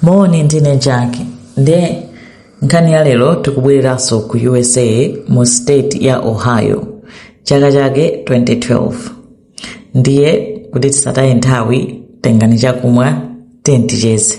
moni ndine jack ndiye nkhani ya lero tikubwereranso ku usa mu state ya ohio chaka chake 2012 ndiye kuti tisataye nthawi tengani chakumwa ticheze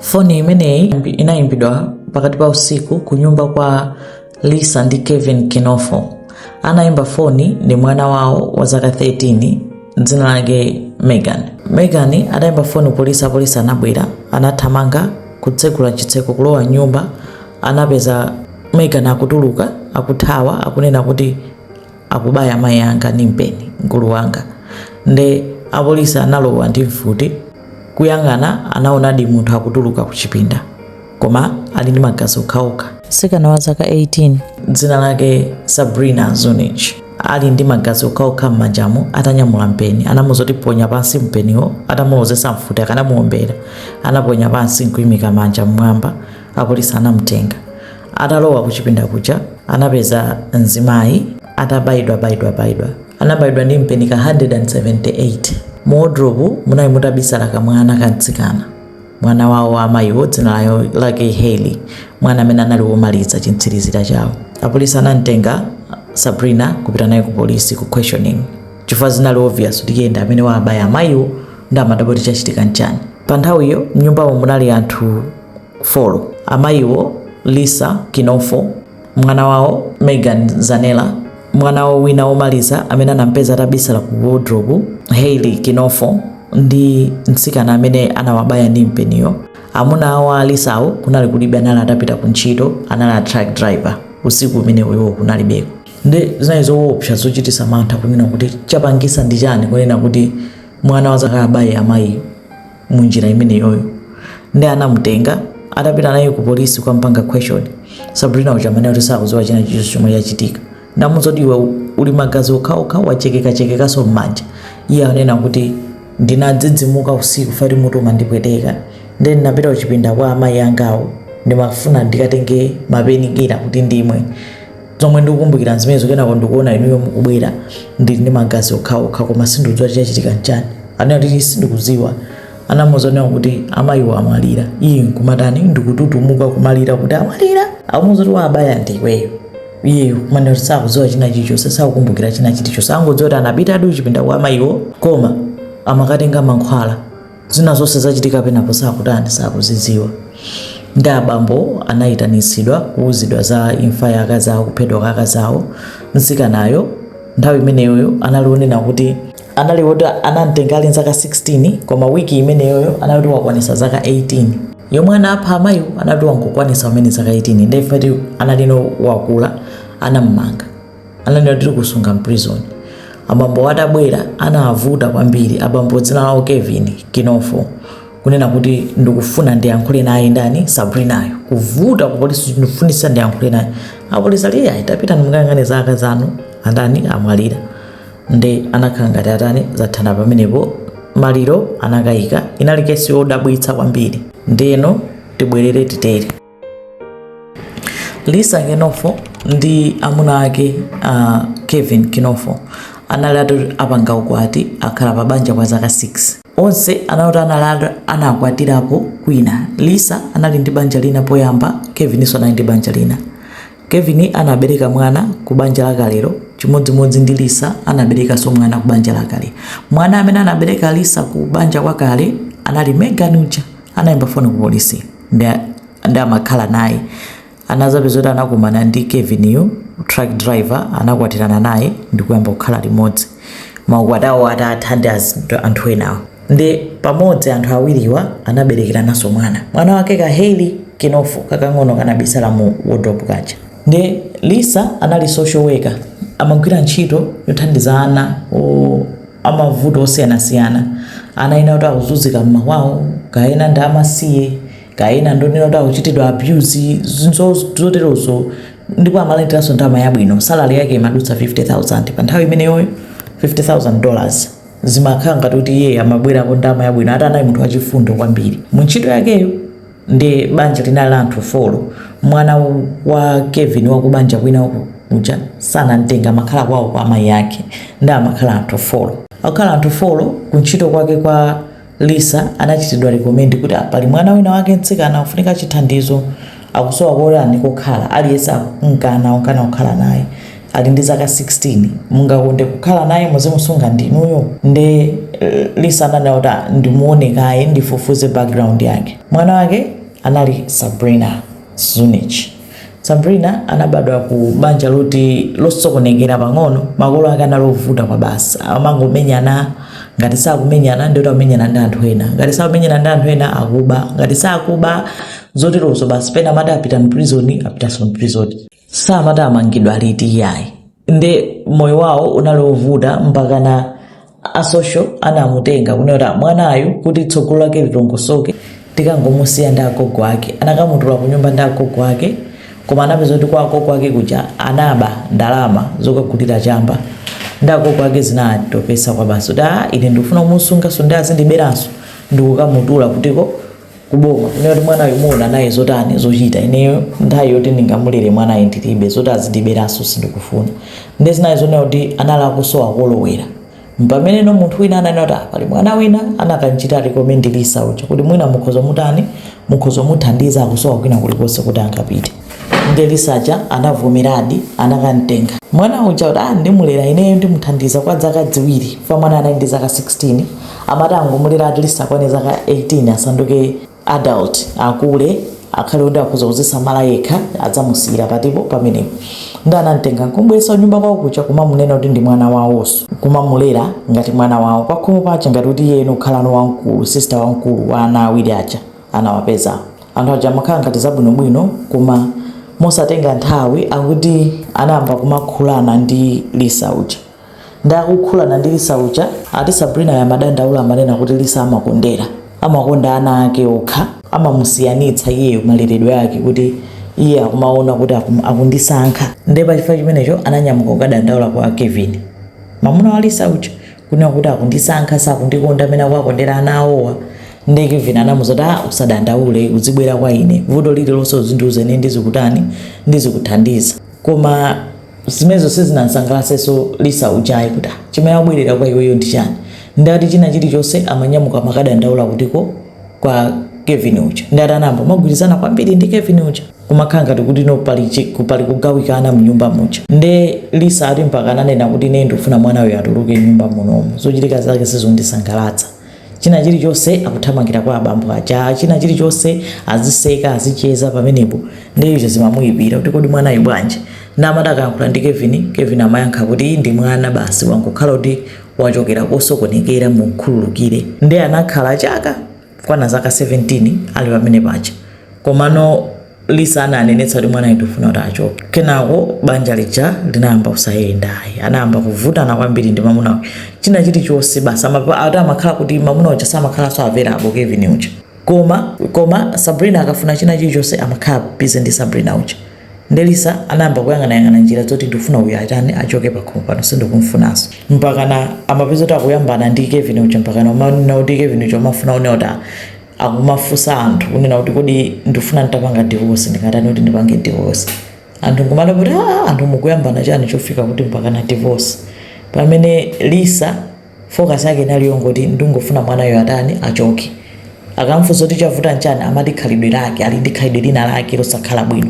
foni imeneyi inayimbidwa pakati pa usiku ku nyumba kwa lisa ndi kevin kinofo anaimba foni ndi mwana wawo wa zaka 13 dzina lake megan megan adaimba foni polisi apolisi anabwera anathamanga kutsegula chitseko kulowa mnyumba anapeza megan akutuluka akuthawa akunena kuti akubaya mayi anga ndi mpeni mkulu wanga nde apolisi analowa ndi mfuti kuyang'ana anaonadi munthu akutuluka kuchipinda koma ali ndi magazi okhaokha. Mtsikana wa zaka 18, dzina lake Sabrina Zunich, ali ndi magazi okhaokha m'manjamo atanyamula mpeni. Anamuuza kuti ponya pansi mpeniwo, atamulozetsa mfuti akanamuombera. Anaponya pansi n'kuimika manja m'mwamba, apolisi anamutenga. Atalowa kuchipinda kuja, anapeza mzimayi atabayidwabayidwabayidwa. Anabayidwa ndi mpeni ka 178. Mu wodirobu munali mutabisala kamwana kamtsikana. mwana wawo wa amayiwo dzina layo- lake haley mwana amene anali womaliza chimtsirizira chawo apolisi anamtenga sabrina kupita naye ku polisi ku questioning chifukwa zinali obvious kuti iye ndi amene waabaya amayiwo ndi amadabwa kuti chachitika nchani pa nthawiyo mnyumbamo munali anthu 4 amayiwo lisa kinofo Mwana wawo, Megan Zanella, mwana wawo wina womaliza amene anamupeza atabisala ku wodirobu, Hayley Kinofo, ndi mtsikana amene anawabaya ndi mpeniyo. Amuna awo a Lisawo kunali kulibe, anali atapita ku ntchito, anali a truck driver. Usiku umenewo iwo kunalibeko. Ndi zinali zowopsa, zochitisa mantha kunena kuti chapangisa ndi chani kunena kuti mwana wa zaka abaye amayiyo. mu njira imeneyoyo ndi anamutenga atapita naye ku polisi kumpanga question sabrina uja amanena kuti sakudziwa china chilichonse chomwe chachitika namuuza kuti iwe uli magazi okhaokha wachekekachekekaso m'manja iye anena kuti ndinadzidzimuka usiku fati mutu umandipweteka ndi ndinapita kuchipinda kwa amayi angawo ndimafuna ndikatenge ma painkiller kuti ndimwe zomwe ndikukumbukira nzimenezo kenako ndikuona inuyo mukubwera ndili ndi magazi okhaokha koma sindikudziwa chachitika nchani anena kuti sindikudziwa anamuuza kunena kuti amayiwo amwalira iye nkumatani ndikututumuka kumalira kuti amwalira amuuza kuti wawabaya ndi iweyo iye kumanena kuti sakudziwa china chilichonse sakukumbukira china chilichonse angodziwa kuti anapita adi kuchipinda kwa amayiwo koma amakatenga mankhwala zina zonse zachitika penapo sakutani sakuzidziwa ndi abambo anayitanitsidwa kuuzidwa za imfa ya akazi awo kuphedwa kwa akazi awo mtsikanayo nthawi imeneyoyo anali onena kuti anali kuti anamtenga ali nzaka 16 koma wiki imeneyoyo anali kuti wakwanisa zaka 18 yomwe anapha amayiwo anali kuti wangokwanisa umene zaka 18 nde ifati analino wakula anam'manga analino tili kusunga mprison abambo atabwera anavuta kwambiri abambo dzina lawo kevin kinofo kunena kuti ndikufuna ndiyankhule naye ndani sabrinayo kuvuta kupolisi ndikufunitsa ndiyankhule naye apolisi ali ayi tapita ukayang'ane za akazi anu atani amwalira nde anakhala ngati atani zathana pamenepo maliro anakayika inali kesi yodabwitsa kwambiri ndeno tibwerere titere lisa kinofo ndi amuna ake uh, kevin kinofo anali oti apanga ukwati akhala pa banja kwa zaka 6 onse anati anali anakwatirapo kwina lisa anali ndi banja lina poyamba kevininso anali ndi banja lina kevin anabereka mwana ku banja lakalero chimodzimodzi ndi lisa anaberekanso mwana ku banja lakale mwana amene anabereka lisa ku banja kwakale anali megan uja anayimba foni ku polisi nde amakhala naye anazapeza kuti anakumana ndi Kevin uyu truck driver anakwatirana naye ndi kuyamba kukhala limodzi maukwati awo atatha ndi az- anthu enawo ndi pamodzi anthu awiriwa anaberekerananso mwana mwana wake ka Hailey Kinofo kakang'ono kanabisala mu wardrobe kaja ndi Lisa anali social worker amagwira ntchito yothandiza ana o- amavuto osiyanasiyana. Anaena oti akuzunzika m'makwawo, kaya ena ndi amasiye, kaya ena ndi onena kuti akuchitidwa abuse, zinthu zoterozo. Ndipo amalandiranso ndalama yabwino, salary yake imadutsa 50,000. Pa nthawi imeneyoyo 50,000 dollars zimakhala ngati kuti iyeyo amabwerako ndalama yabwino, ati anali munthu wachifundo kwambiri mu ntchito yakeyo. Ndi banja linali la anthu folo. Mwana wa Kevin wa kubanja kwina uku, uja sanamtenge amakhala kwawo kwa amayi ake nde amakhala anthu folo. Akukhala anthu folo kuntchito kwake kwa Lisa anachitidwa recommend kuti ah, pali mwana wina wake mtsikana ofunika chithandizo akusowa kotani kokhala aliyense akumkana omkana kukhala naye. ali ndi zaka 16 mungakonde kukhala naye muzimusunga ndinuyo nde eh, Lisa ananena kuti "Ah, ndimuone kaye ndifufuze background yake mwana wake anali Sabrina Zunich Sabrina anabadwa ku banja loti losokonekera pang'ono makolo ake anali ovuta kwa basi amangomenyana ngati sakumenyana ndiye kuti akumenyana ndi anthu ena ngati sakumenyana ndi anthu ena akuba ngati sakuba zoterozo basi pena amati apita mprizoni apitanso mprizoni samati amangidwa liti iyayi nde moyo wawo unali ovuta mpakana a social anamutenga kunena kuti mwanayu kuti tsogolo lake litongosoke tikangomusiya ndi agogo ake anakamutula ku nyumba ndi agogo ake koma anapeza kuti kwa agogo ake kuja anaba ndalama zokagulira chamba ndi agogo ake zinatopesa kwa basi kuti aa ine sindikufuna kumusunganso ndi azindiberanso ndikukamutula kutiko kuboma kunena kuti mwanayu muona naye zotani zochita ineyo nthawi yoti ndingamulere mwanayo ndilibe zoti azindiberanso sindikufuna nde zinayi zonena kuti anali akusowa kolowera mpamene no munthu wina ananena kuti "Ah, pali mwana wina anakamchita recommend Lisa uja kuti mwina mukhoza mutani mukhoza muthandiza akusowa kwina kulikonse kuti angapite nde Lisa uja anavomeradi anakamtenga mwana uja kuti ah ndimulera ineyo ndimuthandiza kwa zaka ziwiri chifukwa mwana anali ndi zaka 16 amati angomulera at least akwane zaka 18 asanduke adult akule akhale kuti akhoza kuzisamala yekha adzamusiyira patipo pamenepo ndi anamtenga nkumbweretsa nyumba kwawo kuja kumamunena kuti ndi mwana wawonso kumamulera ngati mwana wawo pakhomo paja ngati kuti iye eno kukhalano wamkulu sister wamkulu wa ana awiri aja anawapeza. Anthu aja amakhala ngati zabwinobwino koma mosatenga nthawi akuti anayamba kumakhulana ndi Lisa uja. Ndi akukhulana ndi Lisa uja ati Sabrina amadandaula amanena kuti Lisa amakondera. Amakonda ana ake okha, amamusiyanitsa iyeyo maleredwe ake kuti iye akumaona kuti akum- akundisankha. Nde pa chifukwa chimenecho ananyamuka kukadandaula kwa Kevin. Mamuna wa Lisa uja kunena kuti akundisankha sakundikonda amene akuwakondera ana awowa ndiye Kevin anamuuza kuti ah usadandaule uzibwera kwa ine vuto lililonse uzindiuza ine ndizikutani ndizikuthandiza koma zimenezo sizinamsangalatsenso Lisa uja ayi kuti "Ah, chimene abwerera kwa iweyo ndi chani nde ati china chilichonse amanyamuka kumakadandaula kutiko kwa Kevin uja nde ati anayamba kumagwirizana kwambiri ndi Kevin uja kumakhala ngati kuti no pali chi- ku- pali kugawikana mnyumba muja nde Lisa ati mpaka ananena kuti ine ndikufuna mwana uyu atuluke nyumba munomu zochitika zake sizondisangalatsa china chilichonse akuthamangira kwa abambo aja china chilichonse aziseka azicheza pamenepo nde izo zimamuyipira kuti kodi mwanayu bwanji nde amati akayankhula ndi Kevin Kevin amayankha kuti ndi mwana basi wangokhala kuti wachokera kosokonekera mumkhululukire nde anakhala chaka kwana zaka 17 ali pamene paja komano lisa ananenetsa kuti mwanayo ndifuna kuti achoke kenako banja lija linayamba kusayenda ayi anayamba kuvutana kwambiri ndi mamuna uja. china chilichonse basi amapa- ati amakhala kuti mamuna uja samakhala so available kevin uja koma sabrina akafuna china chilichonse amakhala busy ndi sabrina uja Nde Lisa anayamba kuyang'anayang'ana njira zoti ndikufuna uyu atani achoke pakhomo pano sindikumfunanso mpakana amapeza kuti akuyambana ndi Kevin uja mpakana umanena kuti Kevin uja umafuna unena kuti "Ah, akumafunsa anthu kunena kuti kodi ndifuna nditapanga divorce ndingatani kuti ndipange divorce anthu nkumati kuti "Ah, anthu mukuyambana chani chofika kuti mpakana divorce pamene Lisa Focus yake inali yongoti ndungofuna mwanayo atani achoke. Akamfunsa kuti chavuta nchani amati khalidwe lake ali ndi khalidwe lina lake losakhala bwino.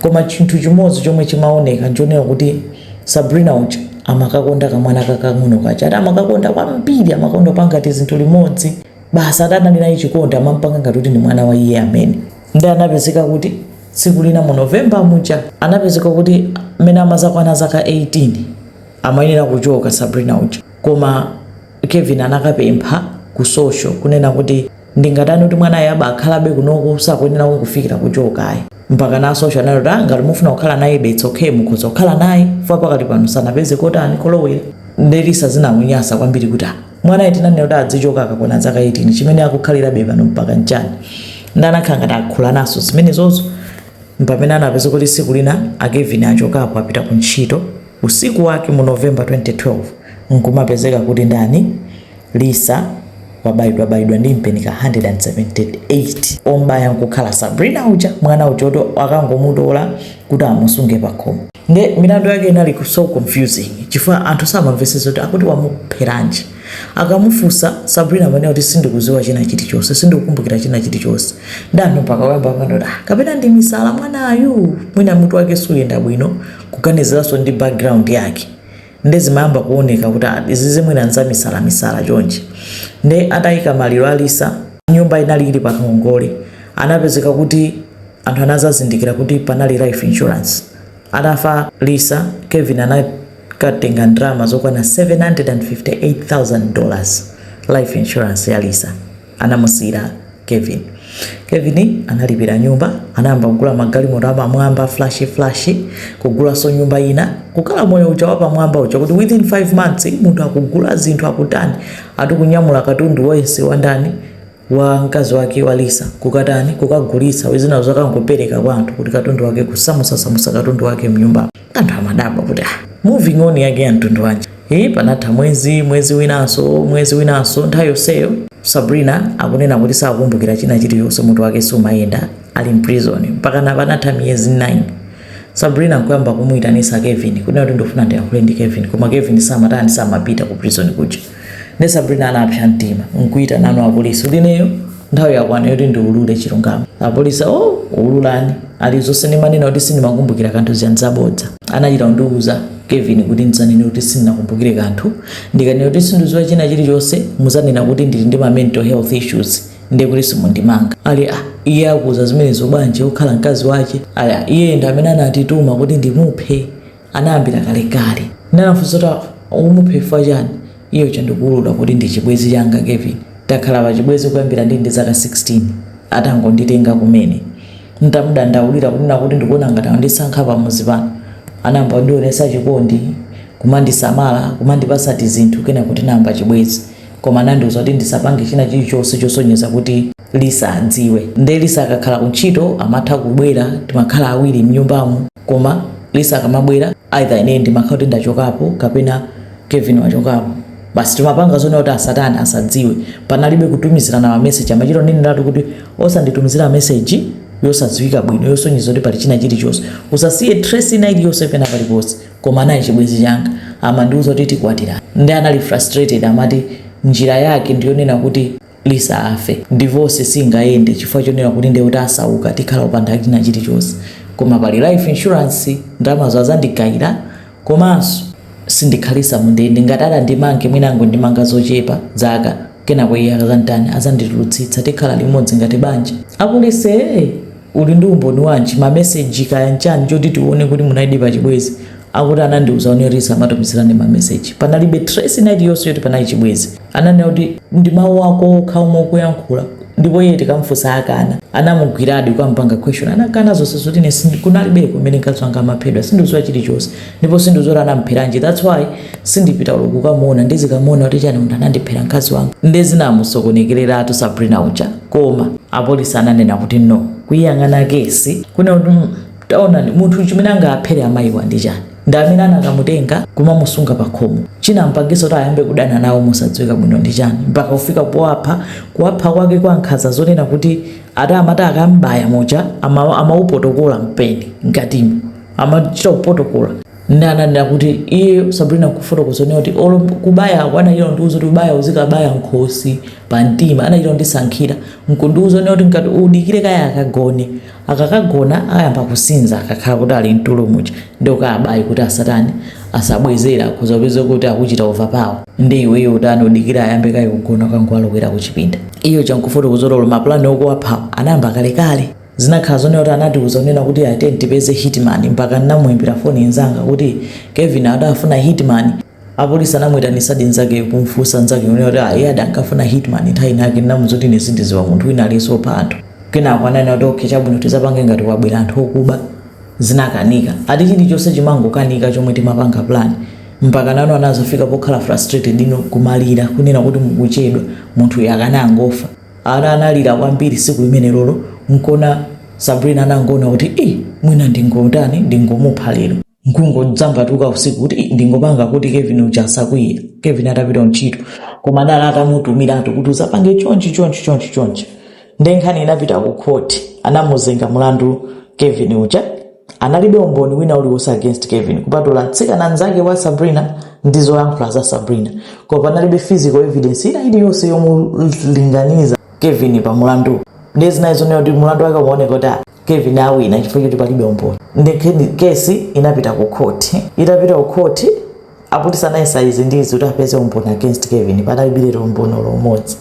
Koma chinthu chimodzi chomwe chimaoneka nchonena kuti Sabrina uja amakakonda kamwana kakang'ono kaja. Ati amakakonda kwambiri amakonda kupanga tizinthu limodzi. Basi ati anali naye chikondi amampanga ngati kuti ndi mwana wa iye amene. Nde anapezeka kuti tsiku lina mu November muja anapezeka kuti mmene amazakwana zaka 18 amayenera kuchoka Sabrina uja koma Kevin anakapempha ku social kunena kuti ndingatani kuti mwanayo aba akhalabe kunoku sakuyenera kungofikira kuchoka ayi mpaka na social anati kuti "Ah, ngati mufuna kukhala naye it's okay mukhoza kukhala naye fa pakati pano sanapeze kotani kolowera nde Lisa zinamunyasa kwambiri kuti "Ah, mwanayo tinanena kuti adzichoka akakwana zaka 18 chimene akukhalirabe pano mpaka nchani nde anakhala ngati akuyankhulanaso zimenezozo mpamene anapeza kuti siku lina akevin achokapo apita ku ntchito Usiku wake mu November 2012 n'kumapezeka kuti ndani? Lisa wabayidwabayidwa ndi mpeni ka 178. Om'baya n'kukhala Sabrina uja, mwana uja woti akangomutola kuti amusunge pakhomo. Nde milandu yake inali so confusing chifukwa anthu samamvetsetsa kuti akuti wamupheranji. Akamufunsa Sabrina amanena kuti sindikudziwa china chilichonse, sindikukumbukira china chilichonse. Nde anthu mpaka kuyamba kumanena kuti, ah, kapena ndi misala mwanayu, mwina mutu wake sukuyenda bwino. kuganiziranso ndi background yake nde zimayamba kuoneka kuti ah, izizi mwina nzamisalamisala chonchi nde atayika maliro a lisa nyumba inali ili pangongole anapezeka kuti anthu anazazindikira kuti panali life insurance atafa lisa kevin anakatenga ndalama zokwana 758000 dollars life insurance ya lisa anamusiyira kevin kevin analipira nyumba anayamba kugula magalimoto apamwamba flashy flashy kugulanso nyumba ina kukhala moyo uja wapamwamba uja kuti within 5 months munthu akugula zinthu akutani ati kunyamula katundu wonse wandani wa mkazi wake wa lisa kukatani kukagulitsa zinazo kukangopereka kwa anthu kuti katundu wake kusamusasamusa katundu wake mnyumba anthu amadabwa kuti ah, moving on yake ya mtundu wanji e, panatha mwezi mwezi winanso mwezi winanso nthawi yonseyo Sabrina akunena kuti sakukumbukira china chilichonse mutu wake sumayenda ali mprison mpakana panatha miyezi 9 Sabrina nkuyamba kumuyitanisa Kevin kunena kuti ndofuna ndiyankhule ndi Kevin koma Kevin samatani samapita ku prison kuja ne sabrina anapsa mtima nkuita nanu apolisi uli ineyo nthawi yakwana yoti ndiulule chilungamo apolisi o ululani ali zonse ndimanena kuti sindimakumbukira kanthu zija nzabodza anachita kundiuza kevin kuti ndidzanene kuti sindinakumbukire kanthu ndikanena kuti sindidziwa china chilichonse muzanena kuti ndili ndi ma mental health issues ndiye kuti simundimanga ali ah, iye akuuza zimenezo bwanji ukhala mkazi wake ali ah, iye ndi amene anandituma kuti ndimuphe anayambira kalekale. Nde anafunsa kuti, Ukumupha chifukwa chiyani? Iye uja ndikuulula kuti, Ndi chibwenzi changa, Kevin. Takhala pachibwenzi kuyambira ndili ndi zaka 16, atangonditenga kumene. N'tamudandaulira kunena kuti ndikuona ngati andisankha pamudzi pano, anayamba kundionetsa chikondi, kumandisamala, kumandipatsa tizinthu kenako tinayamba chibwenzi. Koma anandiuza kuti ndisapange china chilichonse chosonyeza kuti Lisa adziwe. Ndiye Lisa akakhala kuntchito amatha kubwera, timakhala awiri m'nyumbamu. Koma Lisa akamabwera either ine ndimakhala kuti ndachokapo kapena Kevin wachokapo. Basi timapanga zonena kuti asatani asadziwe. Panalibe kutumizirana ma message amachita kuneneratu kuti osanditumizira message yosadziwika bwino yosonyeza kuti pali china chilichonse. Usasiye trace ina iliyonse pena paliponse. Koma anali chibwenzi changa amandiuza kuti tikwatirana. Nde anali frustrated amati njira yake ndiyonena kuti lisa afe. divorce singayende chifukwa chonena kuti ndekuti tisauka tikhala opanda china chilichonse koma pali life insurance ndalamazo azandigaila komanso sindikhalisa mundende ngati atandimange mwina angondimanga zochepa dzaka kenako iye akazanditani azanditulutsitsa tikhala limodzi ngati banja. apolice ee! Uli ndi umboni wanji, ma message kaya nchani choti tione kuti munalidi pa chibwezi? Akuti anandiuza kuti tisamatumizilane ma message. Panalibe trace ina iliyonse yoti panali chibwezi. Ananena kuti ndi mau ako okha omwe ukuyankhula ndipo iye tikamufunsa akana. Anamugwiradi kukamupanga question anakana zonse zoti ine sindi, kunalibeko mmene mkazi wanga amaphedwa. Sindiziwa chilichonse ndipo sindikuziwa kuti anamupheranji that's why sindipita olo kukamuona ndizikamuona kuti chani munthu anandiphera mkazi wanga nde zinamusokonekeratu Sabrina uja. koma apolice ananena kuti no kuiyang'ana kesi kunena kuti mm, taonani munthu chimene angaphere amayiwa ndi chani ndi amene anakamutenga kumamusunga pakhomo chinampangisa kuti ayambe kudana nawo mosadziwika bwino ndi chani mpaka kufika powapha kuwapha kwake kwa nkhanza zonena kuti ati amata akambaya muja amaupotokola ama mpeni mkatimo amachita kupotokola nde ananena kuti iye sabrina kufotokoza zonena kuti olo kubayako anachita kundiuza kuti ubaya uzikabaya nkhosi pa mtima anachita kundisankhira nkundiuza zonena kuti ngati udikire kaye akagone akakagona ayamba kusinza akakhala kuti ali mtulo muja nde ukawabaye kuti asatani asabwezere akhoza kupeza kuti akuchita overpower ndi iweyo utani udikire ayambe kaye kugona ukangoalowera kuchipinda iye ochita kufotokoza kuti olo mapulani okuwaphawo anayamba kalekale Zinakhala zonena kuti anatiuza kunena kuti ayi tiyeni tipeze hitman mpaka nnamuimbira foni nzanga kuti Kevin adafuna hitman. Apolisi anamuitanisadi nzakeyo kumfunsa nzakeyo kunena kuti ayi iye adankafuna hitman nthawi inayake nnamuza kuti ine sindidziwa munthu wina aliyense opha anthu. Kenako ananena kuti okay chabwino tizapange ngati kwabwera anthu okuba. Zinakanika. Ati chilichonse chimangokanika chomwe timapanga plan mpakana anazafika pokhala frustrated no kumalira kunena kuti mukuchedwa munthuyu akanangofa. Ana analira kwambiri siku limenelolo nkona Sabrina anangoona kuti ii mwina ndingotani ndingomupha lero nkungodzambatuka usiku kuti ii ndingopanga kuti Kevin uja asakwiye Kevin atapita kuntchito koma dala atamutumiratu kuti uzapange chonchi chonchi chonchi chonchi nde nkhani inapita ku court anamuzenga mulandu Kevin uja analibe umboni wina uliwonse against kevin kupatula mtsikana mnzake wa sabrina ndi zoyankhula za sabrina koma panalibe physical evidence ina iliyonse yomulinganiza kevin pa mulandu nde zinali zonena kuti mulandu wake umaoneka kuti ah, kevin awina chifukwa choti palibe umboni nde kesi inapita ku khoti itapita ku khoti apolisi anayesa izi ndi izi kuti apeze umboni against kevin panalibiretu umboni olo umodzi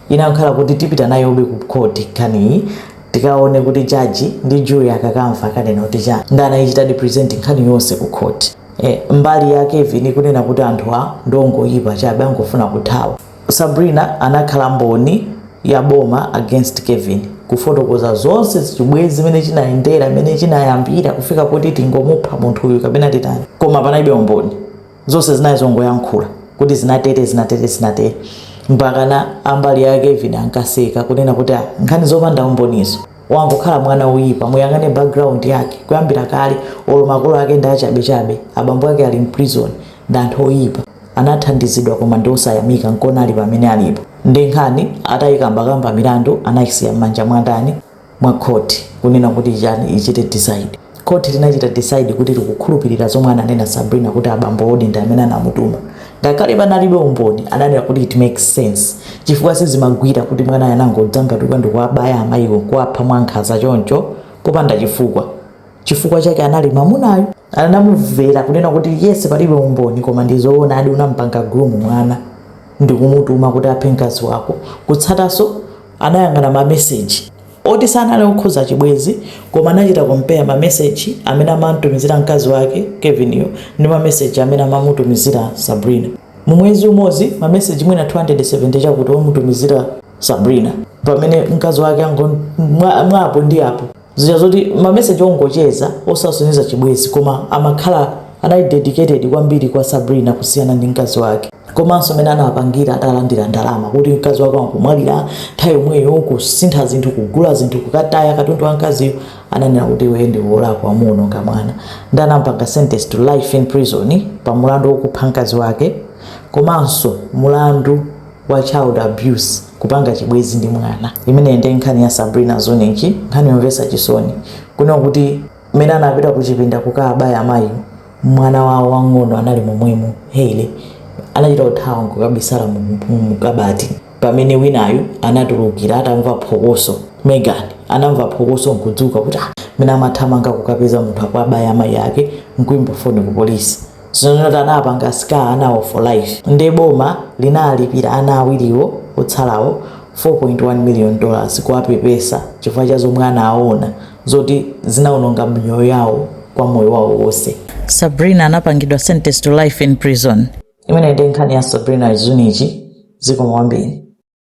inakhala kuti tipita nayo be ku khoti nkhaniyi tikaone kuti jaji ndi jury akakamva akanena kuti chani nde anayichitadi present nkhani yonse ku khoti Eh, mbali ya kevin kunena kuti anthuwa ndongoyipa chabe angofuna kuthawa Sabrina anakhala mboni ya boma against Kevin kufotokoza zonse chibwezi mmene chinayendera mmene chinayambira kufika kuti tingomupha munthu uyu kapena titani koma panalibe umboni zonse zinali zongoyankhula kuti zinatere zinatere zinatere mpakana ambali ya Kevin ankaseka kunena kuti ah, nkhani zopanda umbonizo wangokhala mwana woyipa muyang'ane background yake kuyambira kale olo makolo ake ndi achabechabe abambo ake ali mprison ndi anthu oyipa anathandizidwa koma ndiosayamika nkona ali pamene alipo nde nkhani atayikambakamba mlandu anausiya mmanja mwandani mwa court kunena kuti chani ichite decide court linachita decide kuti likukhulupilira zomwe ananena Sabrina kuti abambowodi ndi amene anamutuma ngakhale panalibe umboni ananena kuti it makes sense chifukwa sizimagwira kuti mwanayo anangodzambatuka ndikuwabaya amayiwo nkuwapha mwankhanza choncho popanda chifukwa chifukwa chake anali mamunayo anamuvera kunena kuti yes palibe umboni koma ndizoonadi unampanga groom mwana ndikumutuma kuti aphe mkazi wako kutsataso anayang'ana mameseji oti sanali okhuza chibwezi koma anachita compare mameseji amene amamutumizira mkazi wake Kevin yo ndi mameseji amene amamutumizira sabrina mu mwezi umodzi mameseji mwina 270 chakuti omutumizira sabrina pamene mkazi wake mwa apo ndi apo zija zoti mameseji ongocheza osasonyeza chibwezi koma amakhala anali dedicated kwambiri kwa sabrina kusiyana ndi mkazi wake komanso mmene anapangira atalandira ndalama kuti mkazi wake wangomwalira nthawi yomweyo kusintha zinthu kugula zinthu kukataya katundu wa mkaziyo ananena kuti iwe ndi wolakwa unaononga mwana ndi anampanga sentence to life in prison pa mulandu wokupha mkazi wake komanso mulandu wa child abuse kupanga chibwezi ndi mwana imeneyi ndi nkhani ya sabrina Zunich nkhani yomvesa chisoni kunena kuti mmene anapita kuchipinda kukaabaya amayi mwana wawo wang'ono anali momwemo Hailey anachita kuthawa nkukabisala mu- mu- mukabati pamene winayo anatulukira atamva phokoso megan anamva phokoso nkudzuka kuti "Ah, mmene amathamanga kukapeza munthu akwabaya amayi ake nkuimba foni ku polisi Zinthu zoti zinawapanga scar anawo for life nde boma linalipira ana awiriwo otsalawo 4.1 million dollars kuwapepesa chifukwa cha zomwe anawona zoti zinaononga miyoyo yawo kwa moyo wawo wonse. Sabrina anapangidwa sentenced to life in prison. Imeneyi ndi nkhani ya Sabrina Zunich zikomo kwambiri.